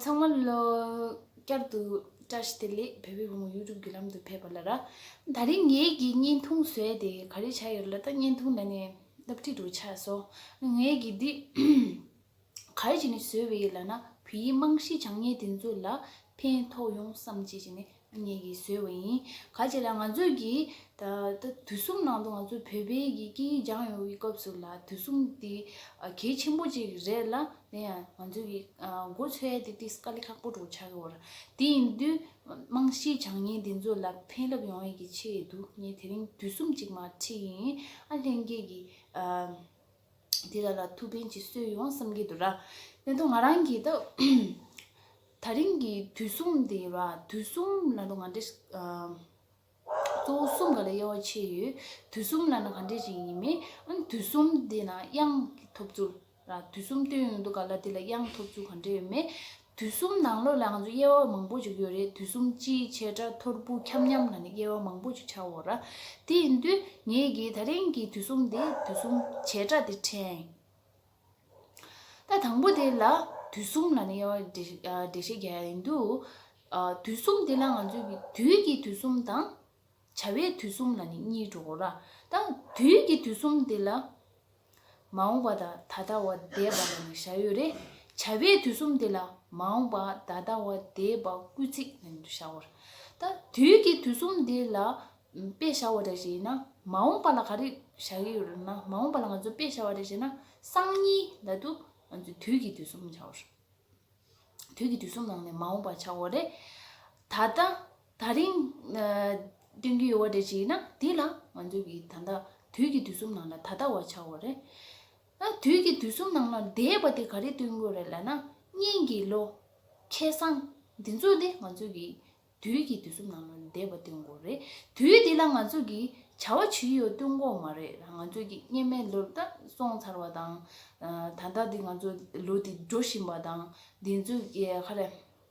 ཚང་མ་ལོ་བསྐྱར་དུ་བཀྲ་ཤིས་བདེ་ལེགས་བལ་བོའི་བུ་མོ་ཡུལ་གྲུབ་བརྒྱུད་ལམ་དུ་ཕེབས་པ་ལ་ར་ད་རིང་ངེད་ཀྱི་བརྙན་ཐུང་བཟོས་ཏེ་ག་རེ་བྱ་ཡོད་ལ་ད་བརྙན་ཐུང་ད་ནས་བསླབ་ཁྲིད་དུ་ཆགས་སོང་ངེད་ཀྱི་འདི་ག་རེ་བྱས་ནས་བཟོས་བའི་ཡིད་ལ་ན་བུ་ཡིས་རྨང་གཞི་བྱང་ངན་དེ་ཚོ་ལ་ཕན་ཐོགས་ཡོང་བསམ་བྱས་བྱས་ནས་ཨ་མྱེས་ཀྱིས་བཟོས་བ་ཡིན་ག་བྱས་ལ་ང་ཚོས་ཀྱི་ད་ལྟ་དུས་གསུམ་ནང་དུ་ང་ཚོས་བོད་པའི་ཡི་གེ་སྦྱངས་ཡོང་བའི་སྐབས་སུ་ལ་དུས་གསུམ་དེ་གལ་ཆེན་པོ་ཅིག་རེད་ལ་དེ་ཡང་ང་ཚོས་ཀྱི་མགོ་ཚོས་ཡ་དེ་དེས་དཀའ་ལས་ཁག་པོ་འགྲོ་ཆགས་ཀྱི་བར་དེ་ཡིན་དུས་རྨང་གཞི་བྱང་ངན་དེ་ཚོ་ལ་ཕན་རླབས་ཡོང་ཡས་ཀྱི་ཆེད་དུ་ངས་དེ་རིང་དུས་གསུམ་ཅིག་མ་ཁྲིད་ཡིན་ཨ་ལྷན་རྒྱས་ཀྱི། དེ་དག་ལ་ཐུགས་ཕན་གྱིས་གསོས་ཡོང་བསམ་གྱི་འདུག་ར་ལེན་དུ་ང་རང་གིས་ད་རིང་གི་དུས་གསུམ་དེ་ཡིན་ར་དུས་གསུམ་ལ་ནི་ང་འདྲ་གཙོ་བོ་གསུམ་ག་ལ་དབྱེ་བ་ཕྱེ་ཡོད་དུས་གསུམ་ལ་ནི་ག་འདྲས་ཅིག་ཡིན་མིན་ཨང་དུས་གསུམ་དེ་ན་དབྱངས་ཀྱི་ཐོབ་ཚུལ་ར་དུས་གསུམ་སྟོན་ཡོང་དུ་ག་ལ་དེ་ལ་དབྱངས་ཐོབ་ཚུལ་ག་འདྲས་ཡོད་མེད་དུས་གསུམ་ནང་ལོགས་ལའང་ཚོ་དབྱེ་བ་མང་པོ་ཅིག་ཡོད་རེད་དུས་གསུམ་སྤྱིའི་ཆེ་ཕྲ་མཐོར་སྤུ་འཁྱམ་མཉམ་ལ་ནི་དབྱེ་བ་མང་པོ་ཅིག་ཆགས་འོང་ར། དེ་ཡིན་དུས་ངེད་ཀྱིས་ད་རིང་གི་དུས་གསུམ་དེ་དུས་གསུམ་ཆེ་ཕྲ་དེ་ཕྲན། ད་དང་པོ་དེ་ལ་དུས་གསུམ་ལ་ནི་དབྱེ་བ་འགྲེལ་བཤད་རྒྱག་ཡ་ཡིན་དུས། དུས་གསུམ་དེ་ལ་ང་ཚོས་ཀྱི་དུས་ཀྱི་དུས་གསུམ་དང། བྱ་བའི་དུས་གསུམ་ལ་ནི་གཉིས་འགྲོ་ར་དང་དུས་ཀྱི་དུས་གསུམ་དེ་ལ། མ་འོངས་པ་དང་ད་ལྟ་བ་འདས་པ་ལ་ནི་བྱ་ཡོད་རེ། བྱ་བའི་དུས་གསུམ་དེ་ལ་མ་འོངས་པ་ད་ལྟ་བ་འདས་པ་སྐུལ་ཚིག་ལ་ནི་བྱ་བ་ར་དང་དུས་ཀྱི་དུས་གསུམ་དེ་ལ་དཔེ་བྱ་བ་ར་ཞེ་ན། མ་འོངས་པ་ལ་ག་རེ་བྱ་ཡི་ཡོད་ར་ན་མ་འོངས་པ་ལ་ང་ཚོས་དཔེ་བྱ་བ་རེ་ཞེ་ན་སང་ཉིན་ལ་དུ་ང་ཚོས་དུས་ཀྱི་དུས་གསུམ་བྱ་བ་ར། དུས་ཀྱི་དུས་གསུམ་ནང་ནས་མ་འོངས་པ་བྱ་བ་རེ། ད་ལྟ། ད་རིང། སྟོན་གྱི་ཡོད་བ་དེ་ཅིག་ན་དེ་ལ་ང་ཚོས་ཀྱི་ད་ལྟ་དུས་ཀྱི་དུས་གསུམ་ནང་ལ་ད་ལྟ་བ་ཆགས་བ་རེད། ཨ་དུས་ཀྱི་དུས་གསུམ་ནང་ལ་འདས་པ་དེ་ག་རེ་སྟོན་དགོས་རེད་ལ་ན་གཉིས་ཀྱི་ལོ། ཁེ་བཟང། འདི་ཚོ་དེ་ང་ཚོས་ཀྱི་དུས་ཀྱི་དུས་གསུམ་ནང་ལ་འདས་པ་སྟོན་དགོས་རེད། དུས་དེ་ལ་ང་ཚོས་ཀྱི་བྱ་བ་ཇི་ཡོད་སྟོན་དགོས་མ་རེད་ང་ཚོས་ཀྱི་སྙེ་མའི་ལོ་ད་སོང་ཚར་བ་དང། ད་ལྟ་དེ་ང་ཚོ་ལོ་དེ་འགྲོ་བཞིན་པ་དང་དེ་ཚོས་ཀྱི་ཧ་རེ།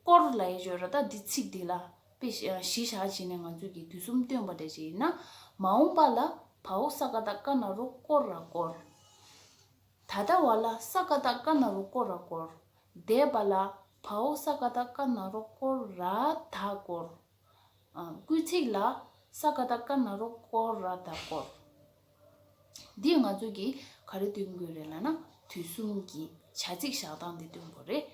སྐོར་ལ་ཡེ་ཆོས་ར་དྭགས་འདི་ཚིག་འདི་ལ་དཔེ་གཞི་བཞག་བྱས་ནས་ང་ཚོས་ཀྱི་དུས་གསུམ་སྟོན་པ་འདྲ་ཅིག་ཡིན་ན། མ་འོངས་པ་ལ་བའོ་ས་ཀ་དག་ཀ་ན་རོ་སྐོར་ར་སྐོར། ད་ལྟ་བ་ལ་ས་ཀ་དག་ཀ་ན་རོ་སྐོར་ར་སྐོར། འདས་པ་ལ་བའོ་ས་ཀ་དག་ཀ་ན་རོ་སྐོར་ར་དག་སྐོར། སྐུལ་ཚིག་ལ། ས་ཀ་ད་ཀ་ན་རོ་ཀོ་ར་ད་ཀོ། འདི་ང་ཚོས་ཀྱིས་ག་རེ་སྟོན་དགོས་རེད་ལ་ན་དུས་གསུམ་གྱི་བྱ་ཚིག་བཞག་སྟངས་འདི་སྟོན་དགོས་རེད།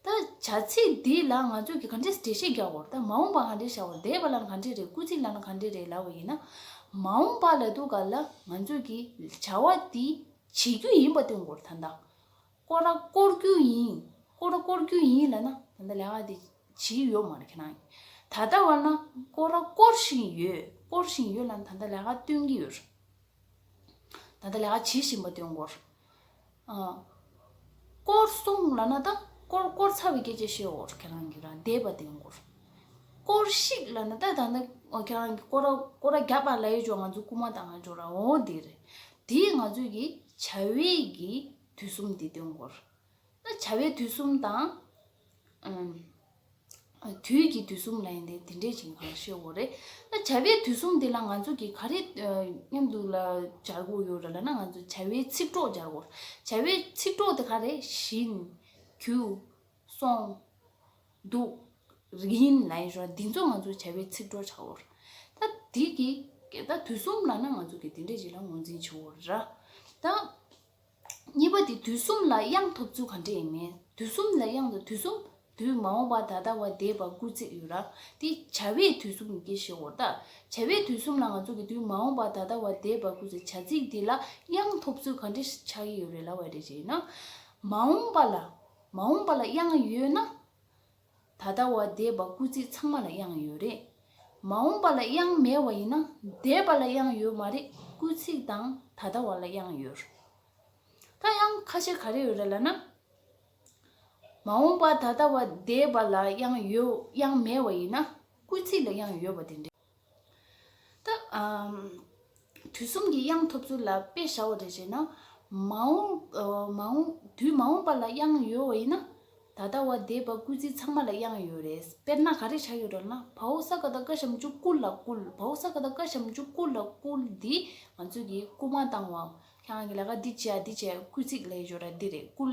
ད་བྱ་ཚིག་འདི་ལ་ང་ཚོས་ཀྱིས་ག་འདྲེ་འགྲེལ་བཤད་རྒྱག་འོ་རེད་ད་མ་འོངས་པ་ག་འདྲེ་བྱ་འོ་རེད་འདས་པ་ལ་ན་ག་འདྲེ་རེད་སྐུལ་ཚིག་ལ་ན་ག་འདྲེ་རེད་ལབ་བ་ཡིན་ན། མ་འོངས་པ་ལ་དུས་སྐབས་ལ་ང་ཚོས་ཀྱིས་བྱ་བ་འདི་བྱེད་རྒྱུ་ཡིན་པ་སྟོན་དགོས་རེད་ད་ད། བསྐོར་ར་བསྐོར་རྒྱུ་ཡིན། བསྐོར་ར་བསྐོར་རྒྱུ་ཡིན་ལ་ན། ད་ལྟ་ལས་ཀ་དེ་བྱེད་ཡོད་མ་རེད་ཁྱེད་རང། ད་ལྟ་བར་ན་བསྐོར་ར་བསྐོར་བཞིན་ཡོད། བསྐོར་བཞིན་ཡོད་ལ་ན་ད་ལྟ་ལས་ཀ་སྟོན་གྱི་ཡོད། ད་ལྟ་ལས་ཀ་བྱེད་བཞིན་པ་སྟོན་སྐོར། བསྐོར་སོང་ལ་ན་ད། བསྐོར་བསྐོར་ཚར་བའི་སྐད་ཆ་བཤད་སྐོར་ཁྱེད་རང་གིས་ར་འདེད་པ་སྟོན་སྐོར། བསྐོར་ཤིག་ལ་ན་ད་ད་ནི་ཁྱེད་རང་གིས་བསྐོར་ར་བསྐོར་ར་རྒྱག་པ་ལ་ཡོད་ཅོག་ང་ཚོ་རྐུ་མ་དང་ང་ཅོག་ར་འོང་དེ་རེད། དེ་ཡིས་ང་ཚོས་ཀྱི་བྱ་བའི་ཀྱི་དུས་གསུམ་འདི་དོན་གོ། ན་བྱ་བའི་དུས་གསུམ་དང། དུས་ཀྱི་དུས་གསུམ་ལ་ཡིན་ཏེ་དེ་འདྲའི་བྱིངས་གང་ལ་ཞེས་འོ། ན་བྱ་བའི་དུས་གསུམ་འདི་ལ་ང་ཚོ་གིས་ག་རེ་སྙམ་དུ་ལ་སྦྱར་དགོས་ཡོད་ར་ལ་ན་ང་ཚོས་བྱ་བའི་ཚིག་གྲོགས་སྦྱར་དགོས། བྱ་བའི་ཚིག་གྲོགས་དེ་ག་རེ་བཞིན། གུ། སོང། འདུག། རིན་ལ་ཡིན་ཞོར་འདི་ཚོ་ང་ཚོས་བྱ་བའི་ཚིག་གྲོགས་བྱ་འོ། ད་དེ་གི། ད་དུས་གསུམ་ལ་ན་ང་ཚོ་གིས་དེ་འདྲའི་བྱིངས་ལ་ངོས་འཛིན་བྱེད་འོ་ར། ད། གཉིས་པ་དེ་དུས་གསུམ་ལ་དབྱངས་ཐོབ་ཚུལ་ག་འདྲ་ཡིན་མིན་དུས་གསུམ་ལ་དབྱངས་དང་དུས་གསུམ་དུས་མ་འོངས་པ་ད་ལྟ་བ་འདས་པ་སྐུར་བརྩིགས་ཡོད་རབས་དེ་བྱ་བའི་དུས་གསུམ་ཡིན་གྱི་ཞེས་འོ་ད་བྱ་བའི་དུས་གསུམ་ལ་ང་ཚོ་གི་དུས་མ་འོངས་པ་ད་ལྟ་བ་འདས་པ་སྐུར་བྱ་ཚིག་འདི་ལ་དབྱངས་ཐོབ་ཚུལ་ག་འདྲ་ཆགས་ཀྱི་ཡོད་རེད་ལབ་བ་རེད་ཅེ་ཡིན་ན། མ་འོངས་པ་ལ་མ་འོངས་པ་ལ་དབྱངས་ཡོད་ན། ད་ལྟ་བ་འདས་པ་སྐུ་ཚེ་ཚང་མ་ལ་དབྱངས་ཡོད་རེད། མ་འོངས་པ་ལ་དབྱངས་མེད་བ་ཡིན་ན་འདས་པ་ལ་དབྱངས་ཡོད་མ་རེད་སྐུ་ཚིག་དང་ད་ལྟ་བ་ལ་དབྱངས་ཡོད་རེད། ད་དབྱངས་ཁ་ཤས་ག་རེ་ཡོད་རེད་ལ་ན། མ་འོངས་པ་ད་ལྟ་བ་འདས་པ་ལ་དབྱངས་ཡོད་དབྱངས་མེད་བ་ཡིན་ན་སྐུ་ཚིག་ལ་དབྱངས་ཡོད་པ་དེ་འདྲ། དུས་གསུམ་གྱི་དབྱངས་ཐོབ་ཚུལ་ལ་དཔེ་བྱའོ་རེ་བྱས་ན། མ་འོངས། དུས་མ་འོངས་པ་ལ་དབྱངས་ཡོད་བ་ཡིན་ན། ད་ལྟ་བ་འདས་པ་སྐུལ་ཚིག་ཚང་མ་ལ་དབྱངས་ཡོད་རེད། དཔེར་ན་ག་རེ་བྱ་ཡོད་རོ་ན། བའོ་ས་ག་ད་ཀ་བྱམས་ཆུ་བསྐུལ་ལ་བསྐུལ། བའོ་ས་ག་ད་ཀ་བྱམས་ཆུ་བསྐུལ་ལ་བསྐུལ་འདི་ང་ཚོས་ཀྱིས་སྐུལ་མ་བཏང་བའམ། ཁྱེད་རང་གིས་ལ་ཀ་འདི་བྱས་འདི་བྱས་སྐུལ་ཚིག་ལས་སྦྱོར་བ་འདི་རེད་བསྐུལ།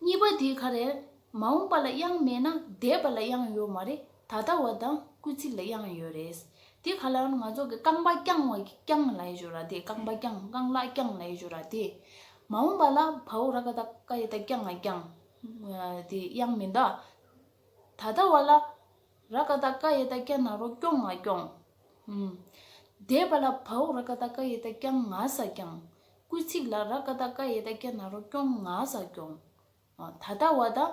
གཉིས་པ་དེ་ག་རེད། མ་འོངས་པ་ལ་དབྱངས་མེད་ན་འདས་པ་ལ་དབྱངས་ཡོད་མ་རེད་ད་ལྟ་བ་དང་སྐུལ་ཚིག་ལ་དབྱངས་ཡོད་རེད། དེ་ག་ལ་ང་ཚོ་གི་རྐང་པ་བརྐྱང་བ་རྐྱང་ལ་ཡེ་ཇོ་ར་དེ་རྐང་པ་བརྐྱང་རྐང་ལག་བརྐྱང་ལ་ཡེ་ཇོ་ར་དེ། མ་འོངས་པ་ལ་བའོ་ར་ཀ་ད་ཀ་ཡེ་ད་རྐྱང་ང་རྐྱང་དེ་དབྱངས་མི་འདའ། ད་ལྟ་བ་ལ་ར་ཀ་ད་ཀ་ཡེ་ད་རྐྱང་ན་རོ་རྐྱོང་ང་རྐྱོང། འདས་པ་ལ་བའོ་ར་ཀ་ད་ཀ་ཡེ་ད་རྐྱང་ང་ས་རྐྱང། སྐུལ་ཚིག་ལ་ར་ཀ་ཏཱ་ཀ་ཡེ་ད་ཀྱ་ན་རོ་སྐྱོང་ང་ཟ་སྐྱོང། ད་ལྟ་བ་དང།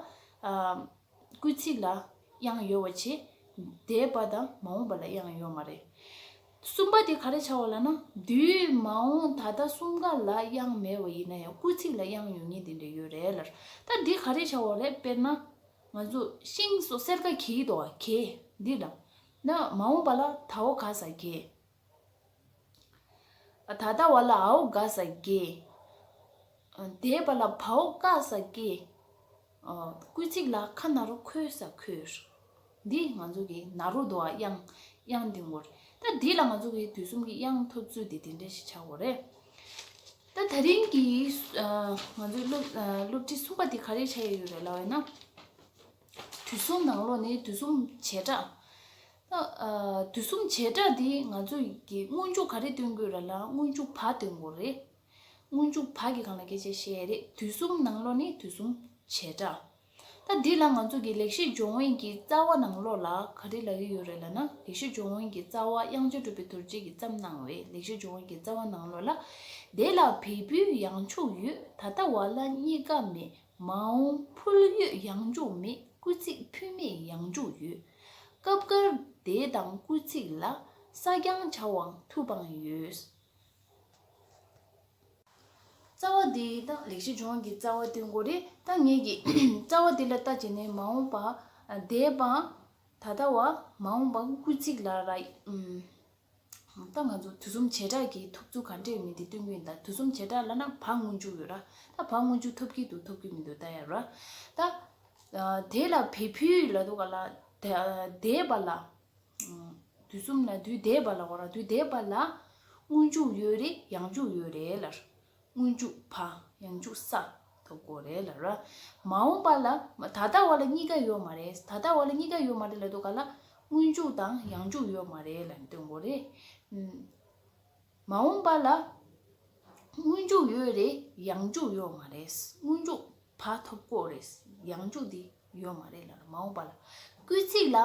སྐུལ་ཚིག་ལ་དབྱངས་ཡོད་བ་ཆེ། འདས་པ་དང་མ་འོངས་པ་ལ་དབྱངས་ཡོད་མ་རེད། གསུམ་པ་དེ་ག་རེ་བྱ་བ་ལ་ན། དུས། མ་འོངས་ད་ལྟ་གསུམ་ཀ་ལ་དབྱངས་མེད་བ་ཡིན་ན་ཡང་སྐུལ་ཚིག་ལ་དབྱངས་ཡོད་ངེས་དེ་འདྲ་ཡོད་རེད་ལར། ད་འདི་ག་རེ་བྱ་བ་རེད་དཔེར་ན། ང་ཚོ་ཤིང་སོགས་གསེར་ཀ་གྱིས་དོ་ག་གྱེས་འདི་ལ། ན་མ་འོངས་པ་ལ་ད་བོ་ག་ཟ་གྱེས། ད་ལྟ་བ་ལ་ཨའོ་དགའ་ས་དགེ། དེས་པ་ལ་བའོ་དཀའ་ས་དཀའི། སྐུལ་ཚིག་ལ་ཁ་ན་རོ་ཁོལ་ས་ཁོལ། འདིས་ང་ཚོ་གི་ན་རོ་དོ་བ་དབྱངས་དབྱངས་འདི་ངོ་རེད། ད་འདི་ལ་ང་ཚོ་གི་དུས་གསུམ་གི་དབྱངས་ཐོབ་ཚུལ་དེ་དེ་འདྲ་ཞིག་ཆགས་དགོས་རེད། ད་ད་རིང་གི་ང་ཚོའི་སློབ་སློབ་ཁྲིད་གསུམ་པ་དེ་ག་རེ་བྱ་ཡི་ཡོད་རེད་ལབ་ཡོད་ན། དུས་གསུམ་ནང་ལོགས་ནི་དུས་གསུམ་བྱེ་བྲག། དུས་གསུམ་བྱེ་བྲག་འདི་ང་ཚོས་ཀྱི་སྔོན་འཇུག་ག་རེ་སྟོན་དགོས་ར་ལ་སྔོན་འཇུག་བ་སྟོན་དགོས་རེད། སྔོན་འཇུག་བ་གི་གང་ལ་གལ་ཆེ་ཞེས་ཡས་རེད་དུས་གསུམ་ནང་ལོགས་ནི་དུས་གསུམ་བྱེ་བྲག། ད་འདི་ལ་ང་ཚོས་ཀྱི་ལེགས་བཤད་སྦྱོང་བན་གྱི་རྩ་བ་ནང་ལོགས་ལ་ག་རེ་ལ་ཡོད་རེད་ལ་ན་ལེགས་བཤད་སྦྱོང་བན་གྱི་རྩ་བ་དབྱངས་ཆེན་གྲུབ་པའི་དུར་རྗེས་ཀྱི་བརྩམས་གནང་བའི་ལེགས་བཤད་སྦྱོང་བན་གྱི་རྩ་བ་ནང་ལོགས་ལ་དེ་ལ་བལ་པོའི་ཡང་ཕྱུག་ཡོད་ད་ལྟ་བ་ལ་གཉིས་ཀ་མེད་མ་འོངས་ཕུལ་ཡོད་ཡང་འཇུག་མེད་སྐུལ་ཚིག་ཕུལ་མེད་ཡང་འཇུག་ཡོད། སྐབས་འགར་འདས་དང་སྐུལ་ཚིག་ལ་ས་རྐྱང་བྱ་བའང་ཐུགས་དཔང་ཡོད། རྩ་བ་འདི་དང་ལེགས་བྱས་ལྗོངས་ཀྱི་རྩ་བ་དོན་གོ་རེ་ད་ངེས་ཀྱི་རྩ་བ་འདི་ལ་ལྟ་བྱེད་ནི་མ་འོངས་པ་འདས་པ་ད་ལྟ་བ་མ་འོངས་པ་སྐུལ་ཚིག་ལ་ར། ད་ང་ཚོ་དུས་གསུམ་བྱེ་བྲག་གིས་ཐོབ་ཚུལ་ག་འདྲས་ཡོད་མེད་དེ་སྟོན་གྱི་ཡིན་ད་དུས་གསུམ་བྱེ་བྲག་ལ་ན་བག་སྔོན་འཇུག་ཡོད་ར་ད་བག་སྔོན་འཇུག་ཐོབ་ཀྱི་འདུག་ཐོབ་ཀྱི་མི་འདུག་ད་ཡ་ར། ད། དེ་ལ་བས་བུའི་ལ་དོ་ག་ལ། འདས་པ་ལ། དུས་གསུམ་ན་དུས་འདས་པ་ལ་འོ་ར་དུས་འདས་པ་ལ། སྔོན་འཇུག་ཡོད་རེད་ཡང་འཇུག་ཡོད་རེད་ལར། སྔོན་འཇུག་བ་ཡང་འཇུག་ས་དོ་དགོ་རེད་ལ་ར། མ་འོངས་པ་ལ་མ་ད་ལྟ་བ་ལ་གཉིས་ཀ་ཡོད་མ་རེད་ད་ལྟ་བ་ལ་གཉིས་ཀ་ཡོད་མ་རེད་ལ་དོ་ག་ལ་སྔོན་འཇུག་དང་ཡང་འཇུག་ཡོད་མ་རེད་ལ་དོན་གོ་རེད། མ་འོངས་པ་ལ་སྔོན་འཇུག་ཡོད་རེད་ཡང་འཇུག་ཡོད་མ་རེད་སྔོན་འཇུག་བ་ཐོབ་དགོ་རེད་ཡང་འཇུག་དེ། ཡོད་མ་རེད་ལ་མ་འོངས་པ་ལ་སྐུལ་ཚིག་ལ་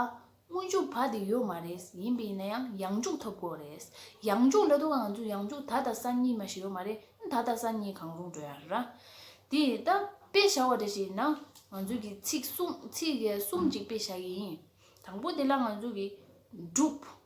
སྔོན་འཇུག་བར་དེ་ཡོད་མ་རེད་ཡིན་པའི་ན་ཡང་ཡང་འཇུག་ཐོབ་དགོས་རེད་ཡང་འཇུག་ལ་དུ་ག་ང་ཚོས་ཡང་འཇུག་ད་ད་ས་གཉིས་མ་ཞིག་ཡོད་མ་རེད་ད་ད་ས་གཉིས་གང་རུང་འགྲོ་ཡ་ར་དེ་ད་དཔེ་བྱ་བ་འདྲ་ཞིག་ཡིན་ན་ང་ཚོས་ཀྱི་ཚིག་གསུམ་ཚིག་གསུམ་གཅིག་དཔེ་བྱ་ཡི་ཡིན་དང་པོ་དེ་ལ་ང་ཚོས་ཀྱི་འགྲུབ།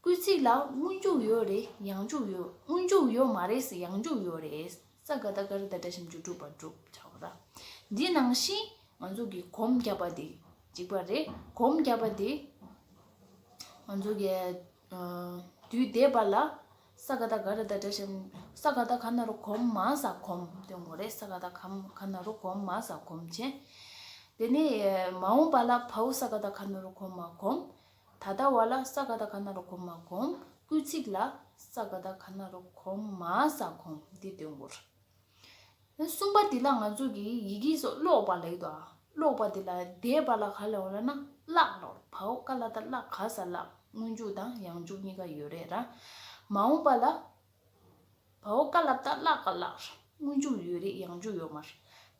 སྐུལ་ཚིག་ལ་སྔོན་འཇུག་ཡོད་རེད་ཡང་འཇུག་ཡོད་སྔོན་འཇུག་ཡོད་མ་རེད་ཡང་འཇུག་ཡོད་རེད་ས་ག་ད་ག་རི་ད་དྲ་ཞིམ་ཅུ་དྲུག་པར་བསྒྲུབ་བྱ་བ་དང་འདི་ནང་བཞིན་ང་ཚོ་གི་གོམ་བརྒྱབ་པ་དེ་གཅིག་པ་རེད་གོམ་བརྒྱབ་པ་དེ་ང་ཚོ་གི་དུས་བདེ་བ་ལ་ས་ག་ད་ག་རི་ད་དྲ་ཞིམ་ས་ག་ད་ག་ན་རུ་གོམ་མ་ས་གོམ་སྟོན་དགོས་རེད་ས་ག་ད་ག་ན་རུ་གོམ་མ་ས་གོམ་བྱེད་དེ་ནས་མ་འོངས་པ་ལ་བྷའུ་ས་ག་ད་ག་ན་རུ་གོམ་མ་གོམ་ད་ལྟ་བ་ལ་ས་ག་ད་ག་ན་རོ་གོ་མ་གོམ། སྐུལ་ཚིག་ལ། ས་ག་ད་ག་ན་རོ་གོམ་མ་ས་གོམ་འདི་འདོན་དགོས། གསུམ་པ་འདི་ལ་ང་ཚོ་གིས་ཡི་གེ་སོགས་ཀློག་པ་ལེགས་འདུག་ཨ། ཀློག་པ་འདི་ལ་འདས་པ་ལ་ག་ལ་འོ་ལ་ན་བཀླག་ལོར་བའོ་ཀ་ལ་ད་བཀླག་ག་ས་བཀླག་སྔོན་འཇུག་དང་ཡང་འཇུག་གཉིས་ཀ་ཡོད་རེད་ར། མ་འོངས་པ་ལ་བའོ་བཀའ་ལབ་ད་བཀླགས་པ་བཀླགས། སྔོན་འཇུག་ཡོད་རེད་ཡང་འཇུག་ཡོད་མར།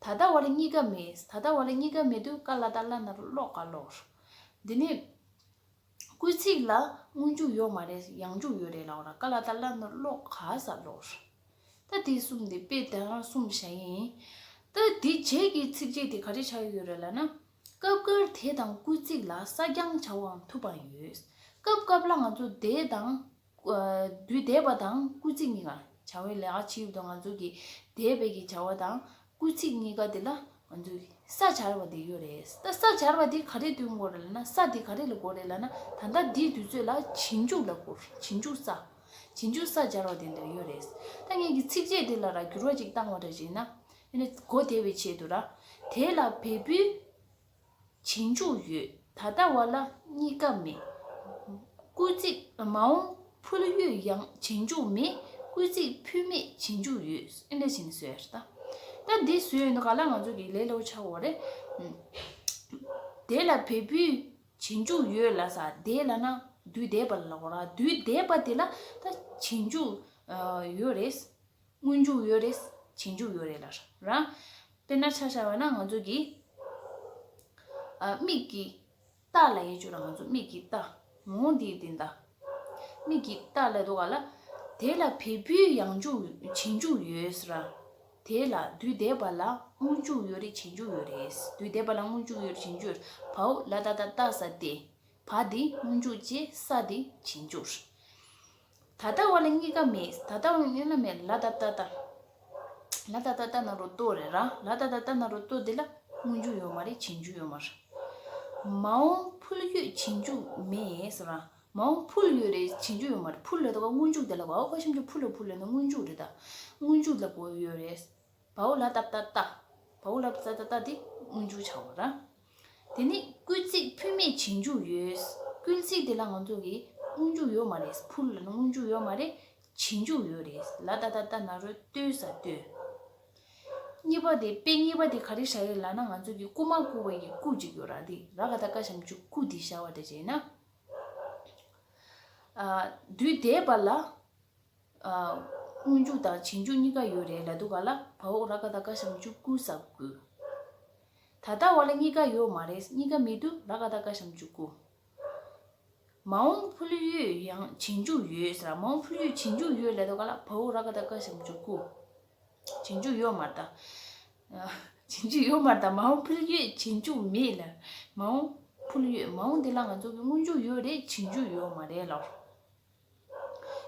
ད་ལྟ་བ་ལ་གཉིས་ཀ་མེད་ད་ལྟ་བ་ལ་གཉིས་ཀ་མེད་དུས་བཀའ་ལ་ད་བླ་ན་རུ་ཀློག་ཀ་ཀློག། འདི་ནི། སྐུལ་ཚིག་ལ་སྔོན་འཇུག་ཡོད་མ་རེད་ཡང་འཇུག་ཡོད་རེད་ལབ་ལ་བཀའ་ལ་ད་བླ་ན་རུ་ཀློག་ཀ་ས་ཀློག། ད་དེ་གསུམ་དེ་དཔེ་དེང་རང་གསུམ་བྱ་ཡི་ཡིན། ད་དེ་རྗེས་ཀྱི་ཚིག་རྗེས་དེ་ག་རེ་བྱ་ཡི་ཡོད་རེད་ལབ་ན། སྐབས་འགར་དེ་དང་སྐུལ་ཚིག་ལ་ས་རྐྱང་བྱ་བའང་ཐུབ་པའང་ཡོད། སྐབས་སྐབས་ལ་ང་ཚོ་དེ་དང། བདུད་བཟླས་པ་དང་བསྐུལ་ཚིག་གཉིས་ཀར་བྱ་བའི་ལས་ཨ་ཕྱི་ཡུལ་དུ་ང་ཚོ་གི་བཟླས་པའི་གི་བྱ་བ་དང་བསྐུལ་ཚིག་གཉིས་ཀ་དེ་ལ་ང་ཚོ་ས་བྱར་བ་དེ་ཡོད་རེད་ད་ས་བྱར་བ་དེ་ག་རེ་དུས་འགོར་ལ་ན་ས་དེ་ག་རེ་ལ་འགོར་རེད་ལ་ན་ད་ལྟ་འདིའི་དུས་ཚོད་ལ་བྱིན་འཇུག་ལ་འགོར་བྱིན་འཇུག་ས་བྱིན་འཇུག་ས་བྱར་བ་དེ་འདིར་ཡོད་རེད་ད་ངེད་ཀྱི་ཚིགས་བཅད་དེ་ལ་ར་འགྱུར་བ་ཅིག་བཏང་བ་འདྲ་བྱས་ན་ཨ་ནི་གོ་བདེ་བའི་ཆེད་དུ་ར་དེ་ལ་བལ་པོའི། བྱིན་ཆུག་ཡོད་ད་ལྟ་བ་ལ་གཉིས་ཀ་མེད། བསྐུལ་ཚིག་མ་འོངས་ཕུལ་ཡོད་ཡང་བྱིན་ཆུག་མེད་བསྐུལ་ཚིག་ཕུལ་མེད་བྱིན་ཆུག་ཡོད། ད་འདི་བཟོས་ཡོད་ག་ལ་ང་ཚོ་གི་ལེ་ལོ་ཆགས་འོ་རེད། དེ་ལ་བལ་བུའི་བྱིན་ཆུག་ཡོད་ལ་ས་དེ་ལ་ན་དུས་དེ་པ་ལ་འོ་ར་དུས་དེ་པ་དེ་ལ་ད་བྱིན་ཆུག་ཡོད་རེད། སྔོན་འཇུག་ཡོད་རེད། བྱེད་འཇུག་ཡོད་རེད་ལར་ར། དཔེར་ན་ཆ་ཆ་བ་ན་ང་ཚོ་གི། མིག་གི་རྟ་ལ་ཡེ་ཆོད་ལ་ང་ཚོ་མིག་གི་རྟ། ངོ་བོ་འདི་དེ་འདྲ། མིག་གི་རྟ་ལ་འདུག་ག་ལ། དེ་ལ་བལ་བུའི་ཡང་འཇུག་བྱེད་འཇུག་ཡོད་ར། དེ་ལ་དུས་འདས་པ་ལ་སྔོན་འཇུག་ཡོད་རེད་བྱེད་འཇུག་ཡོད་རེད། དུས་འདས་པ་ལ་སྔོན་འཇུག་ཡོད་རེད་བྱེད་འཇུག་ཡོད་རེད། བའོ་ལ་ད་ད་ད་ས་ཏེ། བ་འདི་སྔོན་འཇུག་ཅེས་ས་འདི་བྱིན་འཇུག། ད་ལྟ་བ་ལ་གཉིས་ཀ་མེད་ད་ལྟ་བ་ལ་གཉིས་ཀ་མེད་ལ་ད་ལྟ་ད་ལ་ད་ལྟ་ད་ནང་རོ་ལྟོ་རེད་རང་ལ་ད་ལྟ་ད་ནང་རོ་ལྟོ་འདི་ལ་སྔོན་འཇུག་ཡོད་མ་རེད་བྱིན་འཇུག་ཡོད་མ་རེད། མ་འོངས་ཕུལ་ཡོད་བྱིན་འཇུག་མེད་ཟེར་རང་མ་འོངས་ཕུལ་ཡོད་རེད་བྱིན་འཇུག་ཡོད་མ་རེད་ཕུལ་ལ་ད་བ་སྔོན་འཇུག་དེ་ལ་བའོ་བ་གཤམ་གྱི་ཕུལ་ལ་ཕུལ་ལ་ནི་སྔོན་འཇུག་རེད་ད་སྔོན་འཇུག་ལ་བོ་ཡོད་རེད། བའོ་ལ་ཏབ་ཏ་ཏ། བའོ་ལ་བཙ་ཏ་ཏ་འདི་སྔོན་འཇུག་བྱ་བ་རང། དེ་ནི་བསྐུལ་ཚིག་ཕུལ་མེད་བྱིངས་འཇུག་ཡོད། བསྐུལ་ཚིག་དེ་ལ་ང་ཚོ་གི་སྔོན་འཇུག་ཡོད་མ་རེད་ཕུལ་ལ་ནི་སྔོན་འཇུག་ཡོད་མ་རེད་བྱིངས་འཇུག་ཡོད་རེད་ལ་ཏ་ཏ་ཏ་ན་རོ་ལྟོས་ས་ལྟོས། གཉིས་པ་དེ་དཔེ་གཉིས་པ་དེ་ག་རེ་བྱ་ཡོད་ལ་ན་ང་ཚོ་གི་བསྐུལ་མ་བསྐུལ་བ་ཡི་བསྐུལ་ཅིག་ཡོད་ར་འདི་ར་ག་ད་ཀ་བྱམས་ཆུ་བསྐུལ་འདི་བྱ་བ་ད་བྱས་ན། དུས་དེས་པ་ལ། སྔོན་འཇུག་དང་བྱིན་འཇུག་གཉིས་ཀ་ཡོད་རེད་ལ་འདུག་ག་ལ་བའོ་ར་ཀ་ད་ཀ་བྱང་ཆུབ་སྐུ་ཟབ་དགོས། ད་ལྟ་བ་ལ་གཉིས་ཀ་ཡོད་མ་རེད་གཉིས་ཀ་མི་འདུག་ར་ཀ་ད་ཀ་བྱང་ཆུབ་སྐུ། མ་འོངས་ཕུལ་ཡོད་ཡང་བྱིན་འཇུག་ཡོད་ཟེར་མ་འོངས་ཕུལ་ཡོད་བྱིན་འཇུག་ཡོད་ལ་འདུག་ག་ལ་བའོ་ར་ཀ་ད་ཀ་བྱང་ཆུབ་སྐུ། བྱིན་འཇུག་ཡོད་མ་ད། བྱིན་འཇུག་ཡོད་མ་ད་མ་འོངས་ཕུལ་ཡོད་བྱིན་འཇུག་མེད་ལ་མ་འོངས་ཕུལ་ཡོད་མ་འོངས་འདི་ལ་ང་ཚོ་གི་སྔོན་འཇུག་ཡོད་རེད་བྱིན་འཇུག་ཡོད་མ་རེད་ལ།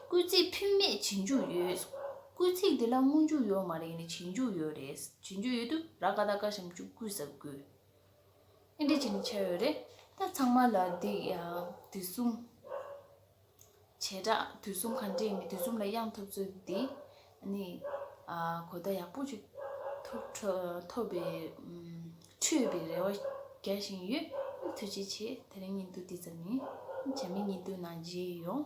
སྐུལ་ཚིག་ཕུད་མེད་བྱེད་མཇུག་ཡོད། སྐུལ་ཚིག་འདི་ལ་སྔོན་མཇུག་ཡོད་མ་རེད་ནི་བྱེད་མཇུག་ཡོད་རེད། བྱེད་མཇུག་ཡོད་དུས་ར་ཀ་ད་ཀ་བྱེད་མཇུག་སྐུལ་ཟབ་སྐུལ། ཨེ་འདྲས་བྱས་ནི་བྱས་ཡོད་རེད། ད་ཚང་མ་ལ་འདི་ཡང་དུས་གསུམ། བྱེ་བྲག་དུས་གསུམ་གང་འདྲས་མི་དུས་གསུམ་ལ་དབྱངས་ཐོབ་ཚུལ་འདི། ནི། གོ་བརྡ་ཡག་པོ་ཅིག་ཐོབ་པའི་འཕྲོས་པའི་རེ་བ་རྒྱག་བཞིན་ཡོད། ཐུགས་རྗེ་ཆེ། ད་རིང་ཉིན་ཐོ་འདི་ཙམ་ཡིན། བྱ་མི་གཉིས་སྡུག་ན་རྗེས་ཡོང།